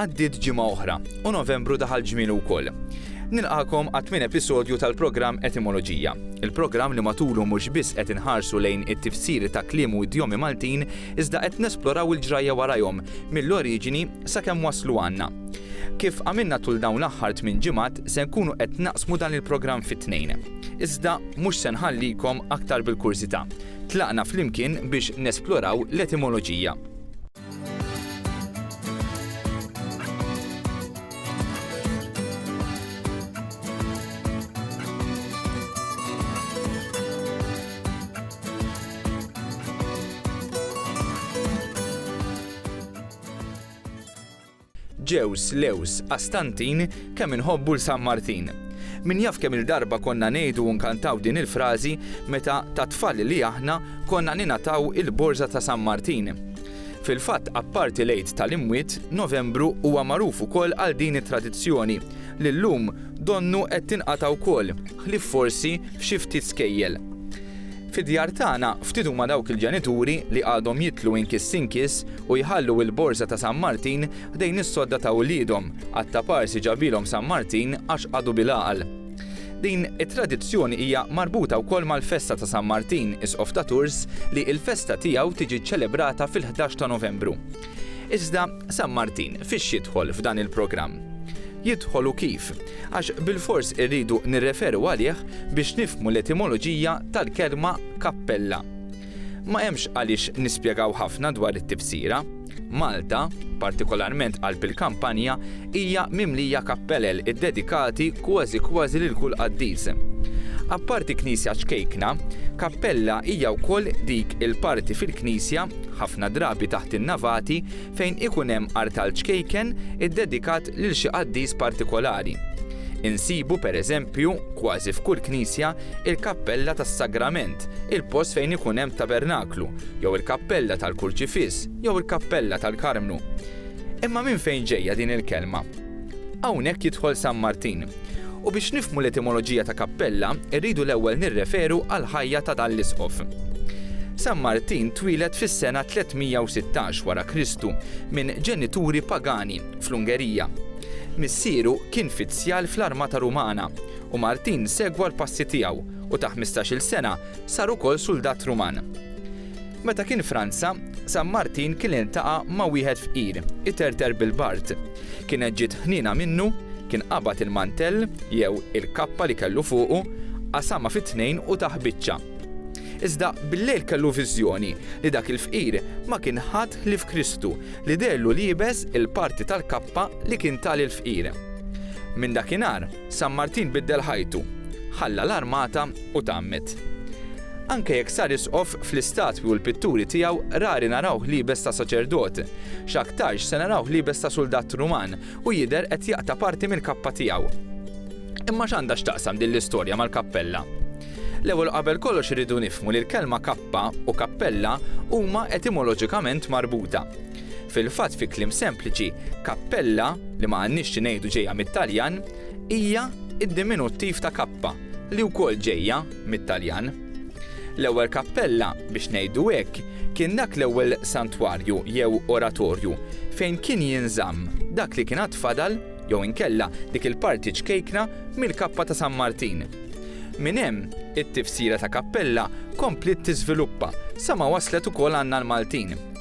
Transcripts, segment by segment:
Għaddiet ġimgħa oħra u Novembru daħal ġmielu wkoll. Nilqakom għat min episodju tal-programm Etimoloġija. Il-programm li matulu mhux biss qed inħarsu lejn it-tifsiri ta' kliem u idjomi Maltin, iżda qed nesploraw il-ġrajja warajhom mill-oriġini Sakemm waslu għandna. Kif għamilna tul dawn l-aħħar tmien ġimgħat, se nkunu qed naqsmu dan il-programm fi tnejn. Iżda mhux se nħallikom aktar bil-kurżità. Tlaqna flimkien biex nesploraw l-etimoloġija. Ġews, Lews, Qastantin, kemm inħobbu 'l San Martin. Min jaf kemm-il darba konna ngħidu u nkantaw din il-frażi meta ta' tfal li aħna konna ningħataw il-borża ta' San Martin. Fil-fatt apparti l-Għid tal-Imwiet, Novembru huwa magħruf ukoll għal din it-tradizzjoni li llum donnu qed tinqata' wkoll, ħlief forsi f'xi ftit skejjel. Fid-djar tagħna, ftit huma dawk il-ġenituri li għadhom jidħlu inkiss inkiss u jħallu il-borża ta' San Martin ħdejn is-sodda ta' uliedhom, għat-tapar si ġabilhom San Martin għax għadu bil-għaqal. Din it-tradizzjoni hija marbuta wkoll mal-festa ta' San Martin, Isqof ta' Tours, li l-festa tiegħu tiġi ċċelebrata fil-ħdax ta' Novembru. Iżda San Martin fiex jidħol f'dan il-programm? Jidħol u kif? Għax bilfors irridu nirreferu għalih biex nifhmu l-etimoloġija tal-kelma kappella. Ma hemmx għaliex nispjegaw ħafna dwar it-tifsira. Malta, partikolarment qalb il-kampanja, hija mimlija kappelel iddedikati kważi kważi lil kull qaddis. Apparti knisja ċkejkna, kappella hija wkoll dik il-parti fil-knisja ħafna drabi taħt in-navati fejn ikun hemm artal ċkejken iddedikat lil xi qaddis partikolari. Insibu, per eżempju, kważi f'kull knisja, il-kappella tas-Sagrament, il-post fejn ikun hemm tabernaklu, jew il-kappella tal-Kurċifiss, jew il-kappella tal-Karmnu. Imma minn fejn ġejja din il-kelma? Hawnhekk jidħol San Martin. U biex nifhmu l-etimoloġija ta' kappella, irridu l-ewwel nirreferu għall-ħajja ta' dan l-isqof. San Martin twieled fis-sena 316 wara Kristu minn ġenituri pagani fl-Ungerija. Missieru kien fizzjal fl-armata Rumana u Martin segwa l-passi tiegħu u ta' ħmistax-il sena sar ukoll suldat Ruman. Meta kien Franza, San Martin kien iltaqa' ma' wieħed fqir, iterter bil-bard. Kienet ġiet ħniena minnu, kien qabad il-mantell, jew il-kappa li kellu fuqu, qasamha fi tnejn u tah biċċa. Iżda billejl kellu viżjoni li dak il-fqir ma kien ħadd ħlief Kristu li deherlu liebes il-parti tal-kappa li kien ta lill-fqir. Minn dakinhar, San Martin biddel ħajtu, ħalla l-armata u tgħammed. Anke jekk sar isqof, fl-istatwi u l-pitturi tiegħu rari narawh liebes ta' saċerdot. X'aktarx se narawh liebes ta' suldat Ruman u jidher qed jaqta' parti mill-kappa tiegħu. Imma x'għandha x'taqsam din l-istorja mal-kappella? L-ewwel u qabel kollox irridu nifhmu li l-kelma kappa u kappella huma etimoloġikament marbuta. Fil-fatt fi kliem sempliċi, kappella, li ma għandniex xi ngħidu ġejja mit-Taljan, hija d-diminuttiv ta' kappa, li wkoll ġejja mit-Taljan. L-ewwel kappella, biex ngħidu hekk, kien dak l-ewwel santwarju jew oratorju fejn kien jinżamm dak li kien għad fadal jew inkella dik il-parti ċkejkna mill-kappa ta' San Martin. Minn hemm, it-tifsira ta' kappella kompliet tiżviluppa sa ma waslet ukoll għandna l-Maltin.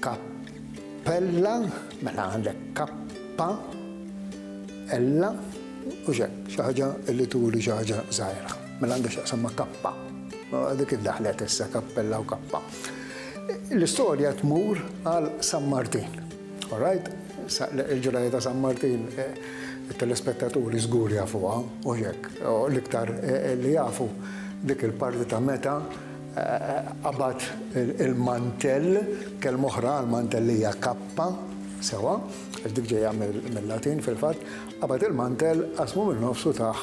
Kappella, mela għandek kappa, ella, u xek, xaħġa li turi xaħġa zaħira. Mela għandek xaqsam ma kappa. Dik id-daħlet issa kappella u kappa. L-istorja tmur għal San Martin. All right, il-ġrajja ta' San Martin it-telespettaturi żgur jafuha, mhux hekk? L-iktar li jafu dik il-parti ta' meta qabad il-mantell, kelma oħra għall-mantell hija kappa, sewwa, għax dik ġejja mil-Latin fil-fatt, qabad il-mantell, qasmu min-nofs u tah.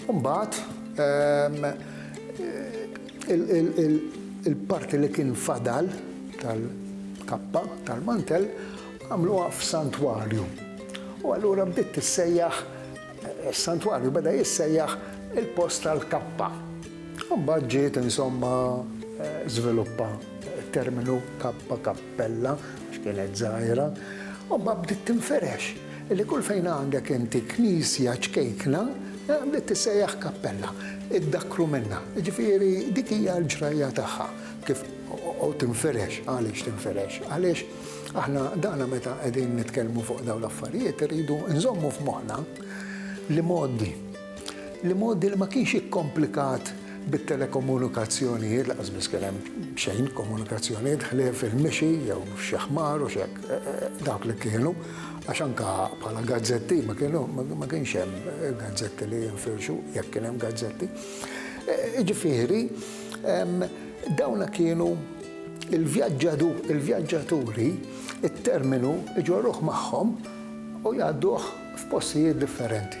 U mbagħad Il-parti li kien fadal tal-kappa tal-mantell għamluha f'santwarju. U allura bdiet tissejjaħ, is-santwarju beda jissejjaħ il-post tal-kappa. U mbagħad ġiet insomma żviluppa t-terminu kappa, kappella, għax kienet żgħira, u mbagħad bdiet tinferex. Li kull fejn għandek inti knisja ċkejkna, li tissejjaħ kappella, iddakkru minnha. Jiġifieri dik hija l-ġrajja tagħha kif u tinfirex. Għaliex tinfirex? Għaliex aħna dana meta qegħdin nitkellmu fuq dawn l-affarijiet irridu nżommu f'moħħna l-imgħoddi. L-imgħoddi li ma kienx ikkomplikat bit-telekomunikazzjonijiet, lanqas biss kien hemm xejn komunikazzjonijiet ħlief il-mixi jew xi ħmar u x'hekk, dawk li kienu, għax anke bħala gazzetti ma kienu ma kienx hemm gazzetti li jinfirxu, jekk kien hemm gazzetti. Jiġifieri, dawna kienu l-vjaġġaturi, it-terminu jġorruh magħhom u jgħadduh f'postijiet differenti.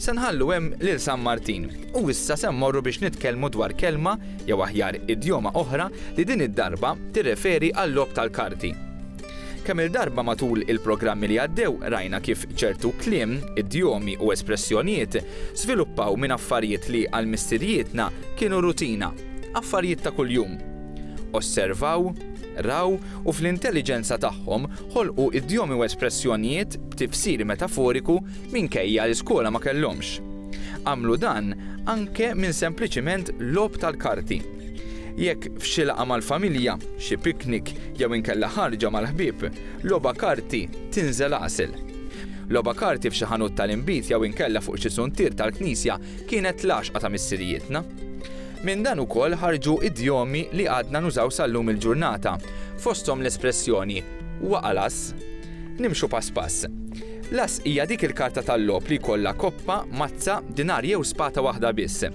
Se nħallu hemm lil San Martin. U issa se mmorru biex nitkellmu dwar kelma, jew aħjar idjoma oħra, li din id-darba tirreferi għal-logħob tal-karti. Kemm-il darba matul il-programmi li għaddew rajna kif ċertu kliem, idjomi u espressjonijiet żviluppaw minn affarijiet li għal missirijietna kienu rutina, affarijiet ta' kuljum. Osservaw, raw u fl-intelliġenza tagħhom ħolqu idjomi u espressjonijiet b'tifsir metaforiku minkejja li skola ma kellhomx. Għamlu dan anke minn sempliċiment logħob tal-karti. Jekk f'xi laqgħa mal-familja, xi piknik jew inkella ħarġa mal-ħbieb, logħba karti tinżel għasel. Logħba karti f'xi ħanut tal-inbid jew inkella fuq xi suntier tal-knisja kienet l-għaxqa ta' missirijietna. Minn dan ukoll ħarġu idjomi li għadna nużaw sal-lum il-ġurnata, fosthom l-espressjoni waqalas. Nimxu pass pass. L-ass hija dik il-karta tal-logħob li jkollha koppa, mazza, dinar jew spata waħda biss.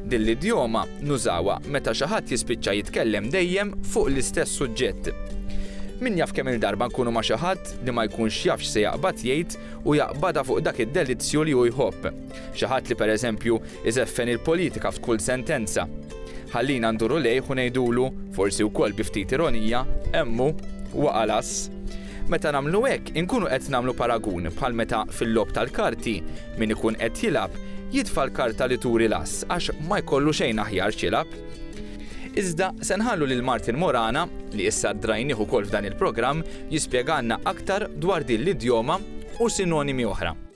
Din l-idjoma nużawha meta xi ħadd jispiċċa jitkellem dejjem fuq l-istess suġġett. Min jaf kemm-il darba nkunu ma' xi ħadd li ma jkunx jaf x'se jaqbad jgħid u jaqbadha fuq dak id-delizzju li hu jħobb. Xi ħadd li pereżempju iżeffen il-politika f'kull sentenza. Ħallina nduru lejh u ngħidulu, forsi wkoll bi ftit ironija, hemm hu, waqa' l-ass. Meta nagħmlu hekk, inkunu qed nagħmlu paragun bħal meta fil-logħob tal-karti, min ikun qed jilgħab, jitfa' l-karta li turi l-ass għax ma jkollu xejn aħjar x'jilgħab. Iżda se nħallu lil Martin Morana, li issa ddrajnih ukoll f'dan il-programm, jispjegalna aktar dwar din l-idjoma u sinonimi oħra.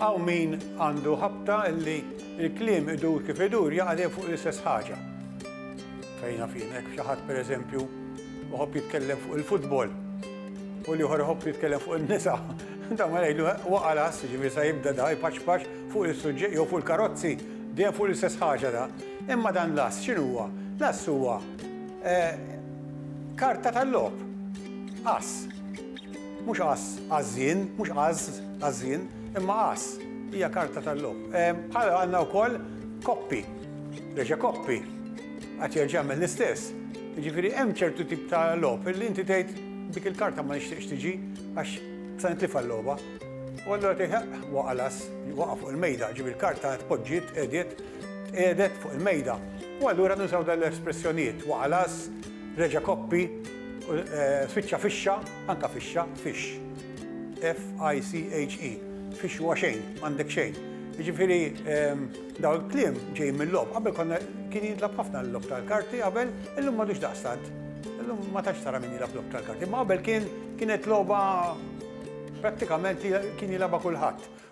Hawn min għandu ħabta li l-kliem idur kif idur jaqa' dejjem fuq l-istess ħaġa. Fejn naf jien hekk xi ħadd pereżempju iħobb jitkellem fuq il-futbol u li ieħor iħobb jitkellem fuq in-nisa. Da ma ngħidlu waqa' las, ġifieri sa jibda da jpaċpaċ fuq is-suġġett jew fuq il-karozzi, dejjem fuq l-istess ħaġa da. Imma dan l-ass x'inhuwa? L-ass huwa Karta tal-logħob. Ass. Mhux ass għaż-żien, mhux għaż għaż-żien, imma ass. Hija karta tal-logħob. Bħalha għandna wkoll koppi. Reġa' koppi. Qatt jerġa' jagħmel l-istess. Jiġifieri hemm ċertu tip ta' logħob li inti tgħid dik il-karta ma nixtieqx tiġi għax se nitlifha l-logħba. U allura tgħid, eħ, waqa' l-ass, waqa' fuq il-mejda. Ġifieri l-karta tpoġġiet, qegħdiet. Tqiegħdet fuq il-mejda u allura nużaw dawn l-espressjonijiet, waqa' las, reġa' koppi, spiċċa fixxa, anke fixxa, fixx. F-i-c-h-e. Fixx huwa xejn, m'għandek xejn. Jiġifieri dawn il-kliem ġejjin mil-logħob. Qabel konna kien jintlagħab ħafna l-logħob tal-karti qabel, illum m'għadux daqstant. Illum ma tantx tara min jilgħab logħob tal-karti, imma qabel kien kienet logħba prattikament li kien jilgħabha kulħadd.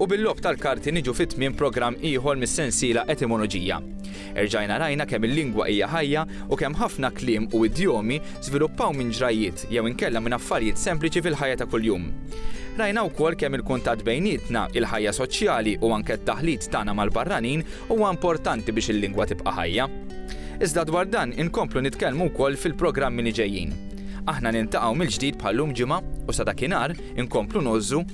U bil-logħob tal-karti niġu fi tmiem programm ieħor mis-sensiela Etimoloġija. Erġajna rajna kemm il-lingwa hija ħajja u kemm ħafna kliem u idjomi żviluppaw minn ġrajjiet jew inkella minn affarijiet sempliċi fil-ħajja ta' kuljum. Rajna wkoll kemm il-kuntatt bejnietna, il-ħajja soċjali u anke t-taħlit tagħna mal-barranin huwa importanti biex il-lingwa tibqa' ħajja. Iżda dwar dan inkomplu nitkellmu wkoll fil-programmi li ġejjin. Aħna niltaqgħu mill-ġdid bħal-lum ġimgħa u sa dakinhar inkomplu ngħożżu